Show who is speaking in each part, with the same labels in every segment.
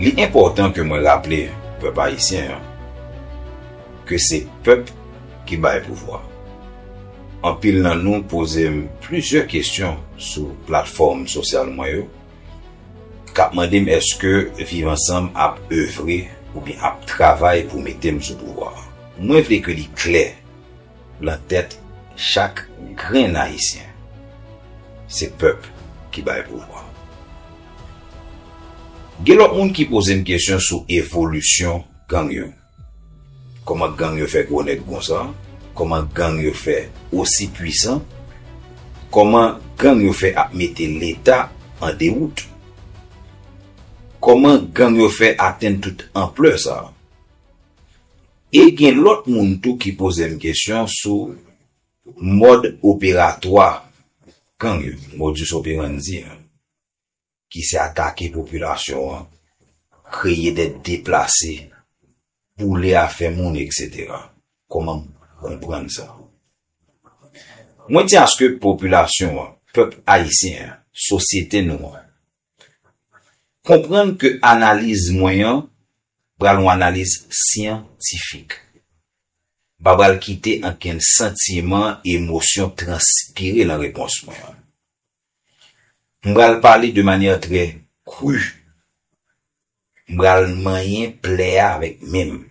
Speaker 1: Li enpòtan ke mwen raple pèp ayisyen an ke se pèp ki bay pouvwa. Anpil nan nou poze m plizyè kesyon sou platfòm sosyal mwen yo k ap mande m èske Viv Ansanm ap evre oubyen ap travay pou mete m sou pouvwa a. Mwen vle ke li klè. Lan tèt chak grenn Ayisyen, se pèp ki bay pouvwa. Gen lòt moun ki poze m kesyon sou evolisyon gang yo. Kòman gang yo fè gwo nèg konsa? Kòman gang yo fè osi pwisan? Kòman gang yo fè ap mete Leta an dewout? Kòman gang yo fè atenn tout anplè sa? E gen lòt moun tou ki poze m kesyon sou mòd operatwa gang yo, modus operandi an, ki se atake popilasyon an, kreye dè deplase, boule afè moun eksetera. Kòman m konprann sa? Mwen di aske popilasyon an, pèp ayisyen an, sosyete nou an, Konprann ke analiz mwen an pral yon analiz syantifik. M pa pral kite ankenn santiman, emosyon transpire lan repons mwen an. M pral pale de manyè trè kru. M pral manyen plè a avèk men m.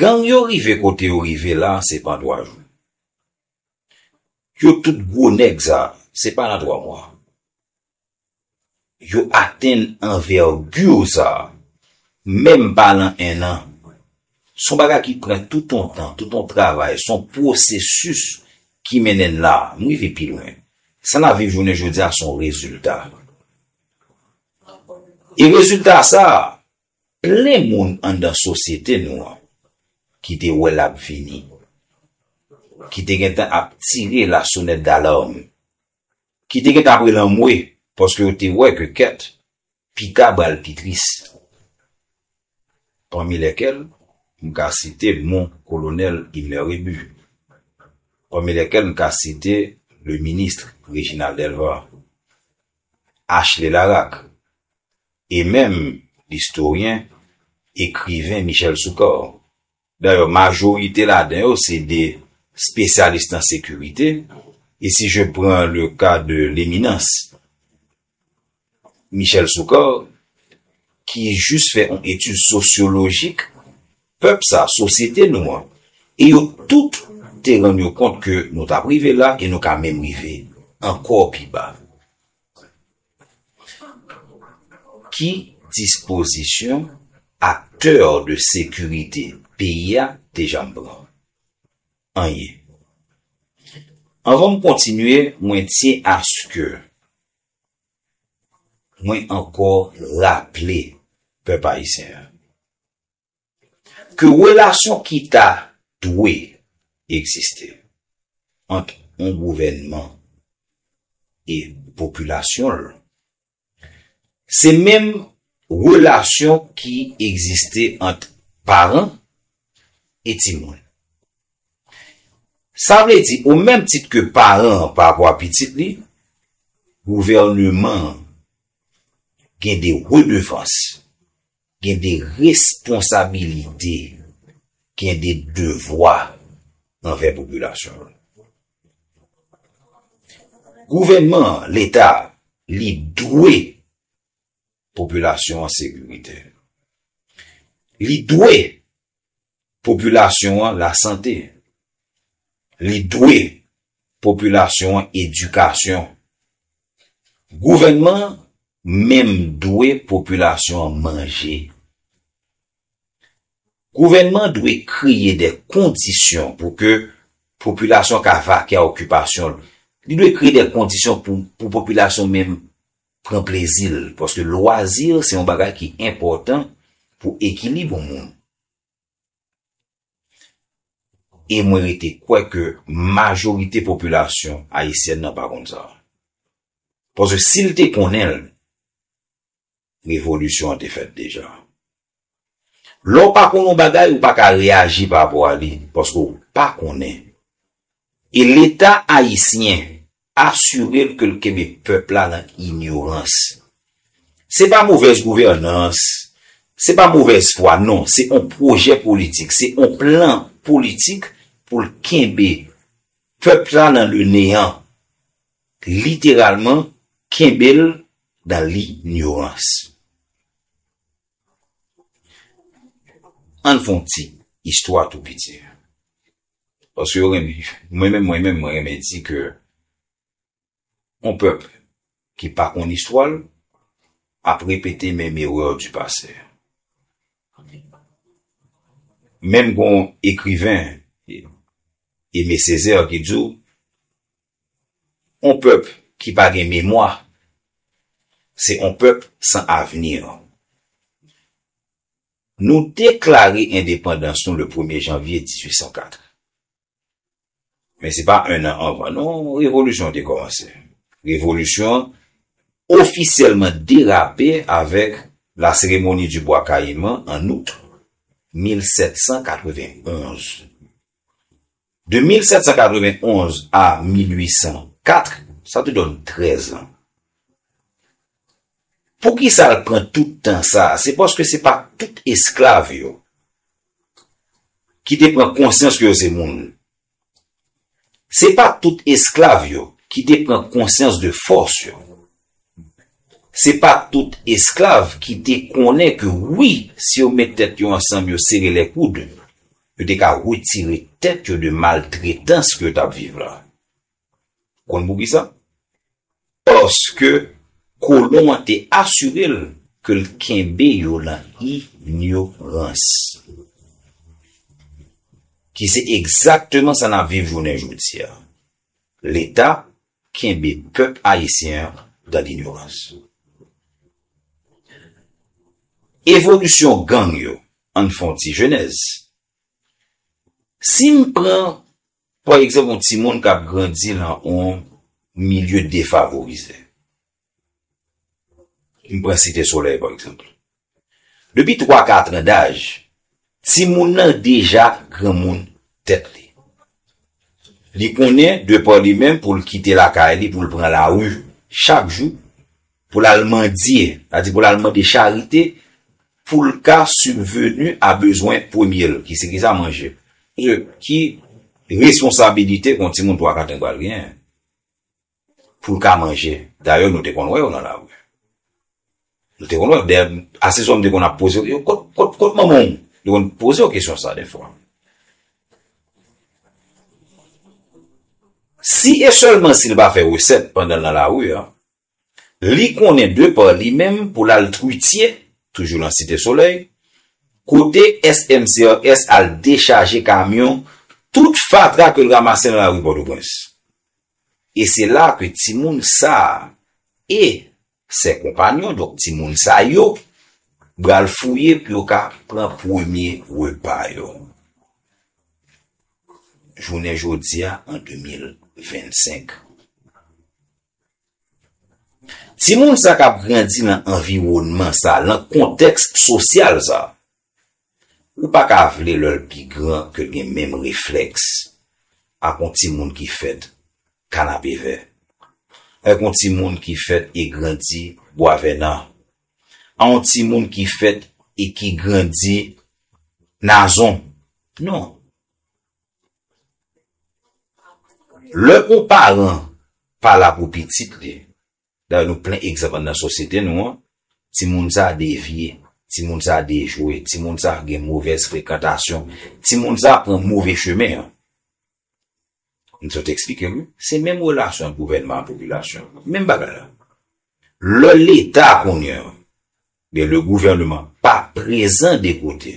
Speaker 1: Gang yo rive kote yo rive la se pan 3 jou. Yo tout gwo nèg sa, se pa nan 3 mwa. Yo atenn anvergure sa, menm pa lan 1 an. Son bagay ki pran tout on tan, tout on travay, son pwosesis ki mennen n la. M rive pi lwen. Sa nap viv jounen jodi a son rezilta. E rezilta sa, Plen moun anndan sosyete nou an ki te wè l ap vini, ki te gentan ap tire la sonnette d'alarme, ki te gentan ap rele anmwe paske yo te wè ke kèt pita bal pi tris. Pami lèkèl m ka site mon Colonel Himler Rébu, pami lèkèl m ka site le Ministre Réginald Delva, Ashley Laraque, e menm listoryen, ekriven Michel Soukar. Dayè majorite ladan yo se de spesyalis nan sekirite, e si je pran le ka de leminans Michel Soukar ki jis fè yon etid sosyolojik pèp sa, sosyete nou an, e yo tout te rann yo kont ke nou t ap rive la e nou ka menm rive ankò pi ba. Ki dispozisyon aktè de sekirite peyi a te janm pran? Anyen. Anvan m kontinye, mwen tyen aske mwen ankò raple pèp ayisyen an. ke relasyon ki ta dwe egziste ant yon gouvènman e popilasyon l, se menm relasyon ki egziste ant paran e timoun. Sa vle di, o menm tit ke paran an pa vwa pitit li, gouvèneman an gen de redevans. Gen de responsabilite, gen de devwa anvè popilasyon an. Gouvènman an, Leta a, li dwe popilasyon an sekirite. Li dwe popilasyon an lasante, li dwe popilasyon an edikasyon. Gouvènman an menm dwe popilasyon an manje. Gouvènman an dwe kreye de kondisyon pou ke popilasyon ka vake a okipasyon l. Li dwe kreye de kondisyon pou popilasyon menm pran plezi l, paske lwazi se yon bagay ki enpòtan pou ekilib yon moun. E mwen rete kwè ke majorite popilasyon ayisyèn nan pa konn sa. Paske si l te konnen l, revolisyon an te fèt deja. Lè w pa konnen yon bagay, ou pa ka reyaji pa rapò a li, paske w pa konnen. E leta ayisyen asire l ke l kenbe pèp la nan inyorans. Se pa movèz gouvènans, se pa movèz fwa, non, se yon pwojè politik, se yon plan politik pou l kenbe pèp la nan le neyan. Literalman, kenbe l dan linyorans. An n fè yon ti istwa tou piti. Paske yo renmen, mwen menm, mwen menm, mwen renmen di ke yon pèp ki pa konn istwa l ap repete menm erè di pase. Menm gen yon ekriven, Aimé Césaire, ki di w, On pèp ki pa gen memwa, se on pèp san avenir. Nou deklare endepandans nou le premye janvye 1804. Men se pa un an anvan non revolisyon an te kòmanse. Revolisyon an ofisyèlman derape avèk La Cérémonie du Bois Caïman an Out 1791. De 1791 a 1804, sa tou donn 13 an. Poukisa l pran tout tan sa a? Se paske se pa tout esklav yo ki te pran konsyans ke yo se moun. Se pa tout esklav yo ki te pran konsyans de fòs yo. Se pa tout esklav ki te konnen ke wi, si yo met tèt yo ansanm, yo sere lè koud, Yo te ka retire tèt yo de maltretans ke yo t ap viv la. Ou konn poukisa? Paske kolon an te asire l ke l kenbe yo lan inyorans. Ki se egzakteman sa n ap viv jounen jodi a. Leta kenbe pèp ayisyen an dan linyorans. Evolisyon gang yo, ann fè yon ti jenèz. Si m pran pa egzanp yon timoun k ap grandi lan yon milye defavorize. M pran Site Solèy pa egzanp. Depi twa katran daj, timoun nan deja granmoun tèt li. Li konnen de pa li menm pou l kite lakay li pou l pran lari chak jou pou l al mandye, sa di pou l al mande charite pou l ka sibveni a bezwen premye l ki se ki sa? Manje. Ki responsabilite yon timoun twa katran pral genyen? pou l ka manje. Dayè nou te konn wè yo nan lari. Nou te konn wè yo. Dayè, ase souvan m te konn ap poze yo, kot kot manman w? M te konn poze yo kesyon sa defwa. Si e sèlman si l pa fè resèt pandan l nan lari a, li konnen de pa li menm pou l al Twitye, toujou nan Site Solèy, kote SMCRS al dechaje kamyon tout fatra ke l ramase nan lari Pòtoprens. E se la ke timoun sa a e sè konpanyon, donk timoun sa yo, bral fouye pou yo ka pran premye repa yo. Jounen jodi a an 2025. Timoun sa k ap grandi nan anviwònman sa, nan kontèks sosyal sa, Ou pa ka vle lè l pi gran ke l gen menm reflèks ak yon timoun ki fèt kanapevè, ak yon timoun ki fèt e grandi bwavènan, ak yon timoun ki fèt e ki grandi nazon. Non. Lè yon paran pa la pou pitit li, Dayè nou plen egzanp anndan sosyete nou an, timoun sa devye, timoun sa dejwe, timoun sa gen movèz frekantasyon, timoun sa pran move chemen an. M sot eksplike nou, se menm relasyon ant gouvènman ak popilasyon, menm bagay la. Lè leta kounye an, oubyen le gouvernement pa prezan de kote,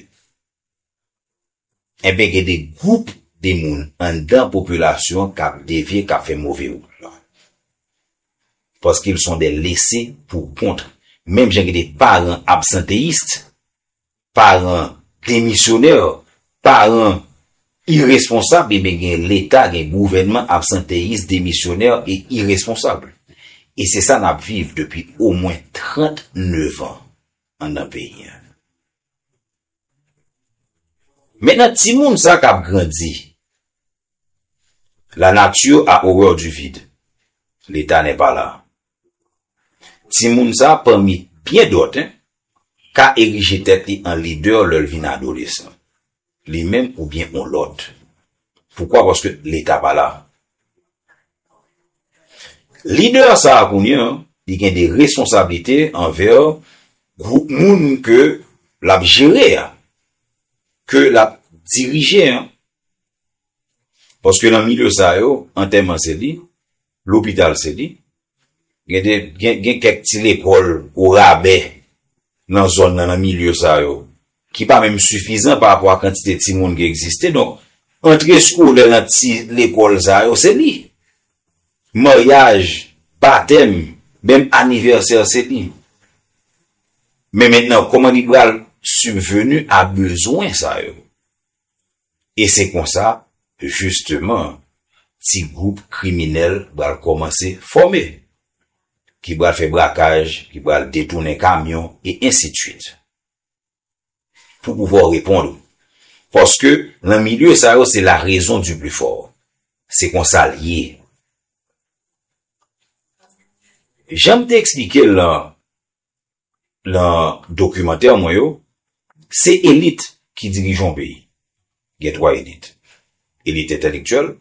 Speaker 1: Enben gen de gwoup de moun anndan popilasyon an k ap devye, k ap fè move wout lan. Paske ils sont des laisses pour compte. Menm jan gen de paran absanteyist, paran demisyonè, paran iresponsab, enben gen leta, gen gouvènman absanteyis, demisyonè e iresponsab. E se sa n ap viv depi omwen 39 an anndan peyi an. Maintenant timoun sa kap grandi la nature a horreur du vide l'Etat n'est pas là timoun sa pami byen dòt ka erije tèt li an lidè lèl vin adolesan Li menm ou byen on lot. Poukwa paske leta pa la. Leader sa a kounya li gen de responsablite anver group moun ke lap jere a. Ke lap dirije an. Paske nan milieu sa yo, antèman se li. Lopital se li. Gen kèk ti lekòl o rabè nan zòn nan, nan milye sa yo, ki pa menm sifizan pa rapò a kantite timoun ki egziste. Donk, antre eskolè nan ti lekòl sa yo, se li. Maryaj, batèm, menm anivèsè se li. Men mentnan, kòman li pral sibveni a bezwen sa yo? E se konsa, jisteman, ti gwoup kriminèl pral kòmanse fòme, ki pral fè brakaj, ki pral detounen kamyon, e ensidswit. Pou pouvwa w reponn ou. Paske, lan milye sa yo, se la rezon di pli fò. Se konsa l ye. Jan m te eksplike l lan nan dokimantè mwen yo, se elit ki dirije yon peyi. Gen 3 elit. Elit entèlektyèl,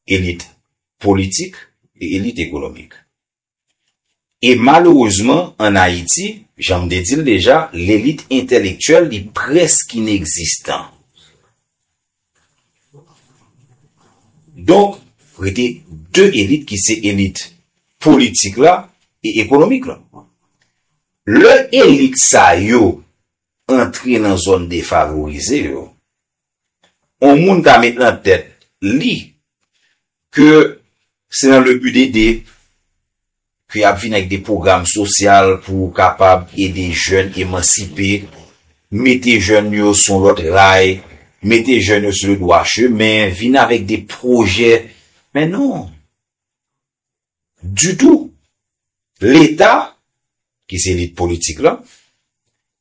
Speaker 1: elit politik e elit ekonomik. E malerezman an Ayiti, jan m te di l deja, lelit entèlektyèl li prèsk inegzistan. Donk, rete 2 elit ki se elit politik la e ekonomik la. Lè elit sa yo antre nan zòn defavorize yo, yon moun ka met nan tèt li ke se nan le but d'aider ke y ap vin ak de pwogram sosyal pou kapab ede jèn emansipe, mete jèn yo sou yon lòt ray, mete jèn yo sou le dwa chemen, vin avèk de pwojè. Men non! Ditou! Leta, ki se elit politik lan,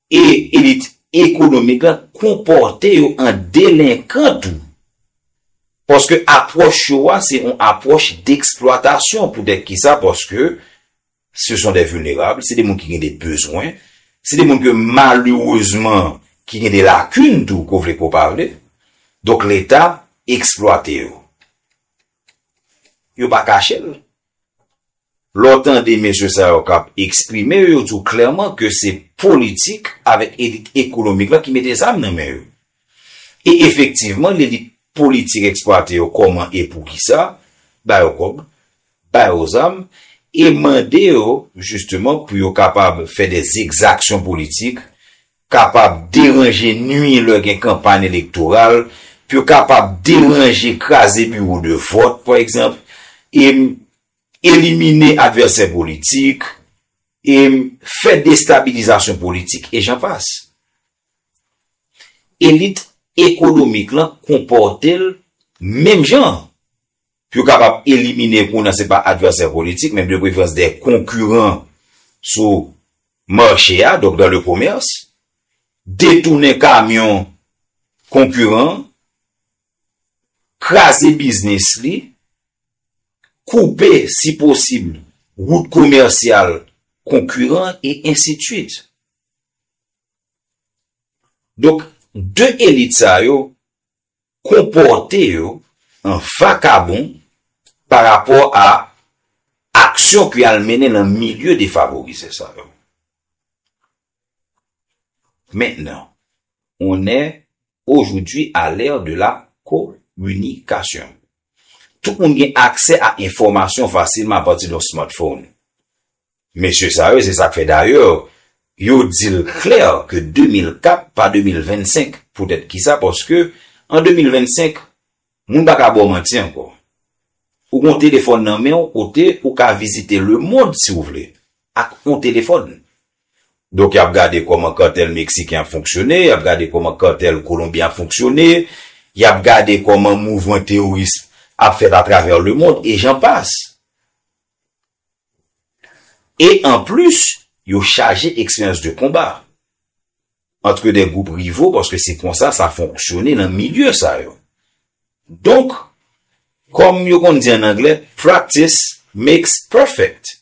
Speaker 1: E elit ekonomik la konpòte yo an delenkan tou. Paske apwòch yo a se yon apwòch deksplwatasyon. Poutèt ki sa? Paske se son dè vilnerab, se de moun ki gen de bezwen, se de moun ke malerezman ki gen de lakin tou, ko vle ko pa vle. Donk leta eksplwate yo. Yo pa kache l. Lè w tande mesye sa yo k ap eksprime yo, yo di w klèman ke se politik avèk elit ekonomik la ki mete zam nan men yo. E efektivman, lelit politik eksplwate yo kòman e poukisa, ba yo kòb, ba yo zam, e mande yo jisteman pou yo kapab fè dè egzaksyon politik kapab deranje nwi lè gen kanpagn elektoral, pou yo kapab deranje kraze biwo de vòt pa egzanp, e elimine advèsè politik, e fè destabilizasyon politik, e jan pas. Elit ekonomik lan konpòte l menm jan. Pou yo kapab elimine kou nan se pa advèsè politik men de preferans dè konkiran sou mache a, donk dan le komès, detounen kamyon konkiran, kraze biznis li, koupe si posib wout komèsyal konkiran e ensitwit. Donk de elit sa yo konpòte yo an vakabon pa rapò a aksyon ki al mennen nan milye defavorize sa yo. Mentnan, on è ojoudwi a lè de la kominikasyon. Tout moun gen aksè a enfòmasyon fasilman apati de yon smartphone. Mesye sa yo se sak fè dayè yo dil klè ke 2004 pa 2025 poutèt kisa paske an 2025 moun pa ka baw manti ankò ou gon telefòn nan menw kote ou ka vizite le mond siw vle ak on telefòn donk yap gade kòman kantèl meksiken ap fonksyone yap gade kòman kantèl kolonbyen ap fonksyone yap gade kòman mouvman teworism ap fèt atravè le mond e jan pas. E an plis, yo chaje eksperyans de konba antre 2 gwoup rivo paske se konsa sa fonksyone nan milye sa yo. Donk, kòm yo konn di an angle, practice makes perfect.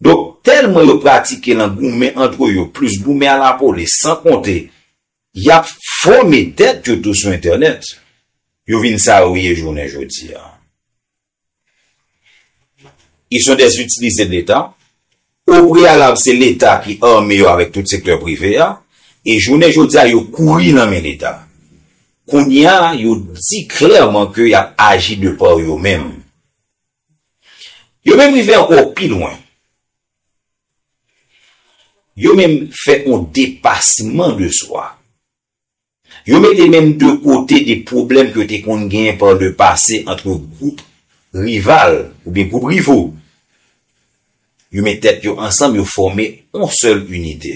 Speaker 1: Donk, tèlman yo pratike lan goumen antre yo plis goumen a la polis san konte y ap fòme tèt yo tou sou entènèt, yo vin sa yo ye jounen jodi a. Ils sont des utilisés de l'Etat. Au préalable se Leta ki arme yo avèk tout sektè prive a e jounen jodi a yo kouri nan men Leta. Kounye a yo di klèman ke y ap aji de par yo menm. Yo menm rive ankò pi lwen. Yo menm fè yon depasman de swa. Yo mete menm de kote de pwoblèm ke yo te konn genyen par le passé antre gwoup rival oubyen gwoup rivo. Yo met tèt yo ansanm, yo fòme on sèl inite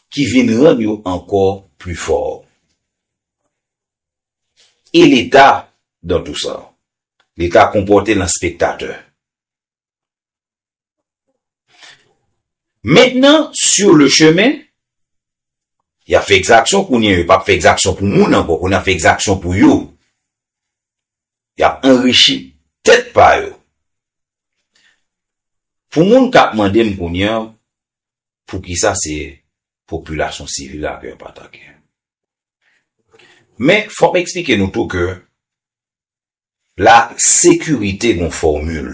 Speaker 1: ki vin rann yo ankò pli fò. E Leta dan tou sa? Leta konpòte l an spektatè. Mentnan, sur le chemin, y ap fè ekzaksyon kounye, yo pa p fè ekzaksyon pou moun ankò, kounye y ap fè ekzaksyon pou yo. Y ap anrichi tèt pa yo. Pou moun k ap mande m kounye an, poukisa se popilasyon sivil la ke yo pa atake? Men, fò m eksplike nou tou ke La sekirite nou fòmil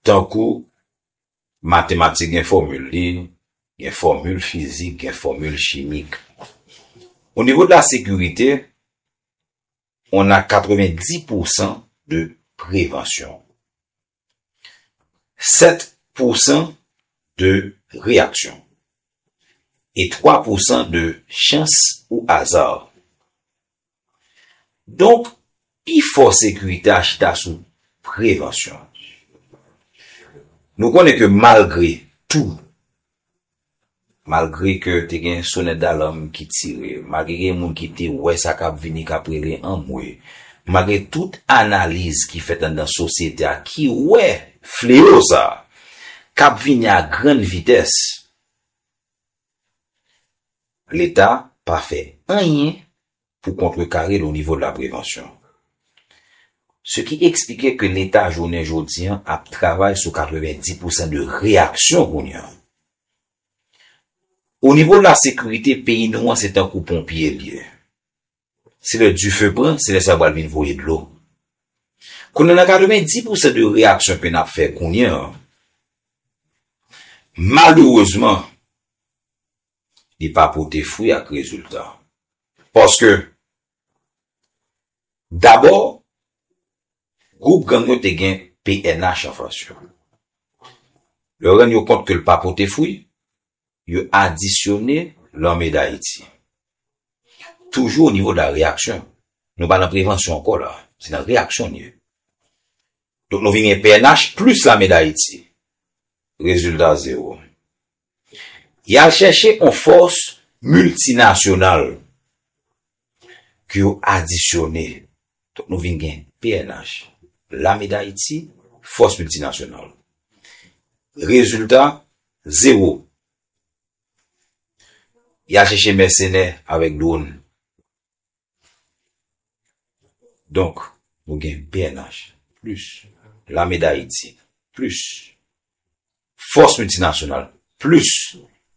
Speaker 1: tankou matematik gen fòmil li, gen fòmil fizik, gen fòmil chimik. O nivo de la sekirite, on a 90 pousan de prevansyon. 7 pou san de reyaksyon e 3 pou san de chans ou aza. Donk, pi fò sekirite a chita sou prevansyon. Nou konnen ke malgre tou Malgre ke te gen sonèt dalam ki tire, malgre gen moun ki te wè sa kap vini kap rele anmwe, malgre tout analiz ki fèt anndan sosyete a ki wè fleo sa kap vini a grann vitès, leta pa fè anyen pou kontrekare l o nivo de la prevansyon. Se ki eksplike ke leta jounen jodi an ap travay sou 90 pousan de reyaksyon kounye an. O nivo de la sekirite peyi nou an se tankou ponpye l ye. Se lè dife pran, se lè sa pral vin voye dlo. Kounye an nan 90 pousan de reyaksyon ke n ap fè kounye an, malerezman, li pa pote fwi ak rezilta. Paske, dabò, gwoup gang yo te gen pnh anfas yo. Lè yo rann yo kont ke l pa pote fwi, yo adisyone Lame Dayiti. Toujou o nivo de la reyaksyon, nou pa nan prevansyon ankò la, se nan reyaksyon n ye. Donk nou vin gen pnh plis Lame Dayiti. Rezilta zewo. Yal chèche on fòs miltinasyonal ke yo adisyone. Donk nou vin gen pnh, Lame Dayiti, fòs miltinasyonal. Rezilta, zewo. Yal chèche mèsenè avèk dwon. Donk, nou gen pnh plis Lame Dayiti plis fòs miltinasyonal plis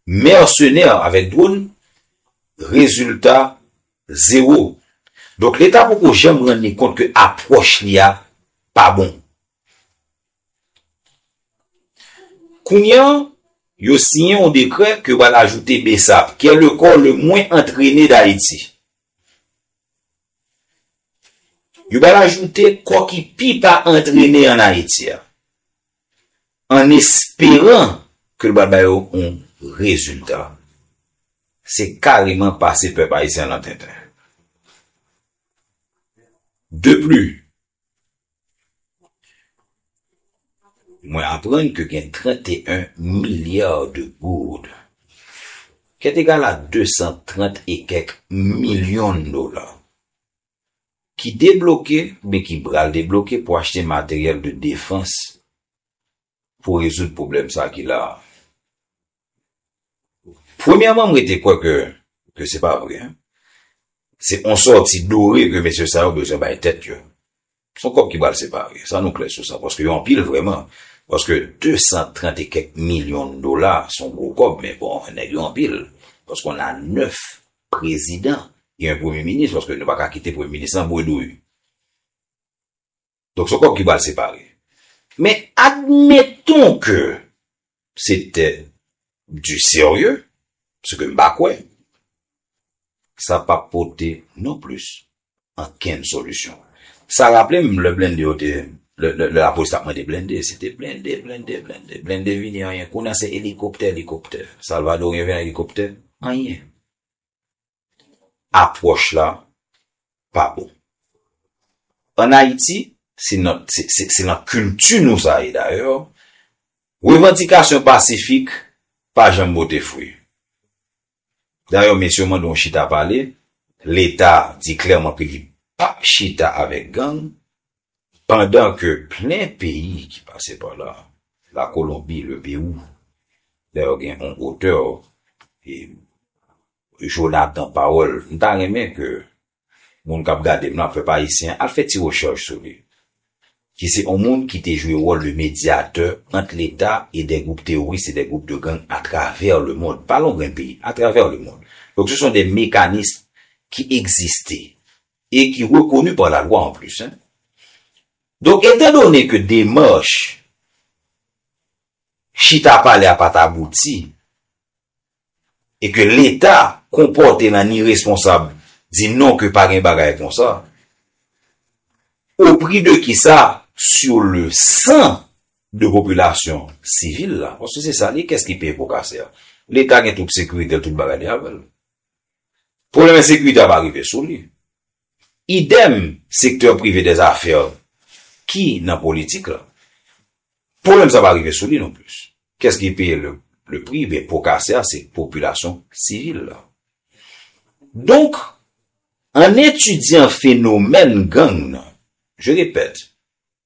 Speaker 1: mèsenè avèk dwòn, rezilta zewo. Donk, Leta poko janm rann li kont ke apwòch li a pa bon. Kounya yo siyen yon dekrè ke yo pral ajoute Bsap, ki è le kò le mwen antrene d'Ayiti. Yo pral ajoute kò ki pi pa antrene an Ayiti a, an esperan ke l pral ba yo yon rezilta. Se kareman pase pèp ayisyen lan tenten. De pli, Mwen aprann ke gen 31 milliards de gourdes, ket egal a 230 e kek milyon dola, ki debloke oubyen ki bral debloke pou achte materyèl de defans pou rezoud pwoblèm sa ki la a. Premyèman m rete kwè ke ke se pa vre. Se yon sòti dore ke mesye sa yo bezwen bay tèt yo. Se yon kòb ki pral separe. Sa nou klè sou sa. Paske yo anpil vrèman. Paske 230 e kèk milyon dola se yon gwo kòb. Men bon, nèg yo anpil. Paske on a 9 prezidan e yon premye minis. Paske nou pa ka kite premye minis lan bredouy. Donk son kòb ki pral separe. Men admeton ke se te du sérieux, se ke m pa kwè, sa pap pote non plis ankenn solisyon. Sa raple m lè blende yo te, lè lapolis t ap mande blende, se te blende, blende, blende, blende vini anyen. Kounye a se elikoptè, elikoptè. Salvadoryen vini ak elikoptè, anyen. apwòch la pa bon. An Ayiti, se nan kilti nou sa ye dayè, revandikasyon pasifik pa janm pote fwi. Dayè mesye yo mande yon chita pale, Leta di klèman ke li pap chita avèk gang, pandan ke plen peyi ki pase pa la, la Kolonbi, le Pewou, dayè gen yon otè, Jonathan pawol m ta renmen ke moun kap gadem lan ap fè pa ayisyen al fè ti rechèch sou li ki se on moun ki te jwe wòl de medyatè ant leta e de gwoup teworis e de gwoup de gang atravè le mond pa lon grenn peyi atravè le mond donk se son de mekanism ki egziste e ki rekonu pa la lwa an plis hein donk etan done ke demach chita pale a pat abouti e ke leta konpòte l an iresponsab di non ke pa gen bagay konsa, o pri de ki sa? Sou le san de popilasyon sivil la, paske se sa li ye, kès ki peye po kase a? Leta gen tout sekirite l, tout bagay li avè l. Pwoblèm ensekirite a pa rive sou li. Idem sektè prive dè zafè ki nan politik la. Pwoblèm sa pa rive sou li non plis. Kès ki peye le pri? Ben po kase a se popilasyon sivil la. Donk, an etidyan fenomèn gang nan, je repèt,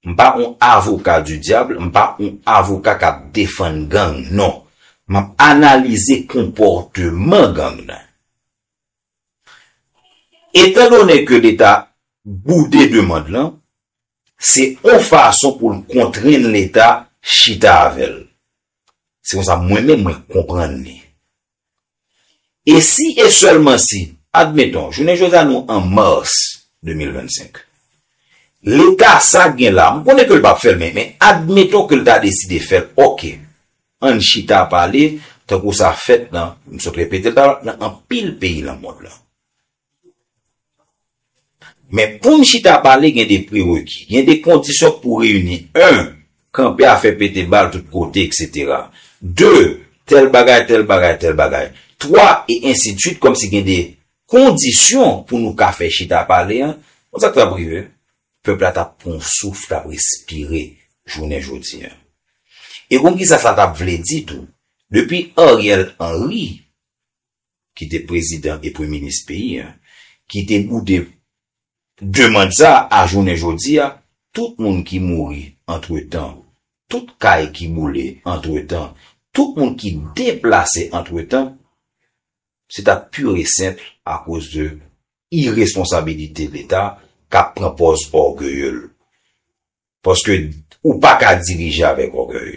Speaker 1: m pa on avoka di dyabl, m pa on avoka k ap defann gang, non. M ap analize konpòteman gang nan. Etan done ke leta boude demand lan, se on fason pou l kontrenn leta chita avè l. Se konsa mwen menm mwen konprann li. E si e sèlman si, admeton, jounen jodi a nou an mars 2025, leta sa gen la, m konnen ke l pa p fè l men, men admeton ke l ta deside fè l, ok. Ann chita pale, tankou sa fèt nan, m sot repete l la, nan anpil peyi nan mond lan. Men pou n chita pale gen de prereki, gen de kondisyon k pou reyini, 1, kanpe a fè pete bal tout kote eksetera, 2, tèl bagay, tèl bagay, tèl bagay, 3, e ensidsuit kòmsi gen de kondisyon pou nou ka fè chita pale an, bon sa k t ap rive? Pèp la t ap pran yon souf, t ap respire jounen jodi an. E konn ki sa sa t ap vle di tou? Depi Ariel Henry, ki te prezidan e premye minis peyi an, ki te boude demand sa a jounen jodi a, tout moun ki mouri antretan, tout kay ki boule antretan, tout moun ki deplase antretan, se t ap pur e senpl akoz de iresponsabilite leta kap pran pòz ògeye l paske ou pa ka dirije avèk ògèy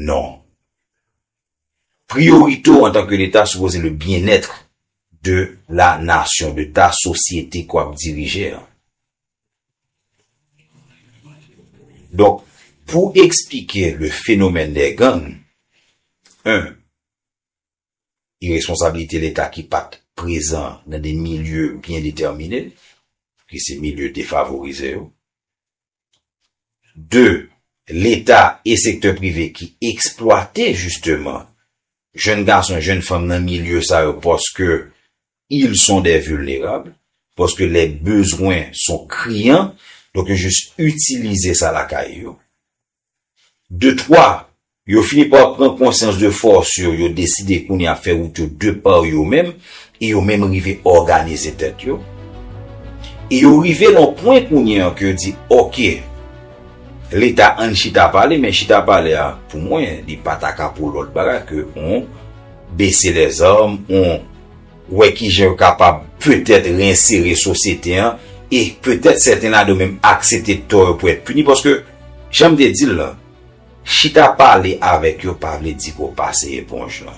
Speaker 1: non priyorite w antan ke leta sipoze le byenètre de la nasyon de ta sosyete ke w ap dirije an donk pou eksplike le fenomèn dè gang 1. e responsablite leta ki pat prezan nan de milye byen detèmine, ki se milye defavorize yo. De, leta e sektè prive ki eksplwate jisteman jenn gason e jenn fanm nan milye sa yo paske ils sont des vulnérables, paske les besoins sont criants, donk yo jis itilize sa lakay yo. De twa, yo fini pa pran konsyans de fòs yo, yo deside kounye a fè wout yo de pa yo menm, e yo menm rive òganize tèt yo. E yo rive nan yon pwen kounye a ke yo di, ok, Leta an n chita pale, men chita pale a pou mwen li pa ta ka pou lòt bagay ke yon bese lèzòm, yon wè ki jan yo kapab petèt reinsere sosyete an, e petèt sèten ladan yo menm aksepte tò yo pou èt pini, paske. Jan m te di l lan, chita pale avèk yo pa vle di pou w pase eponj lan.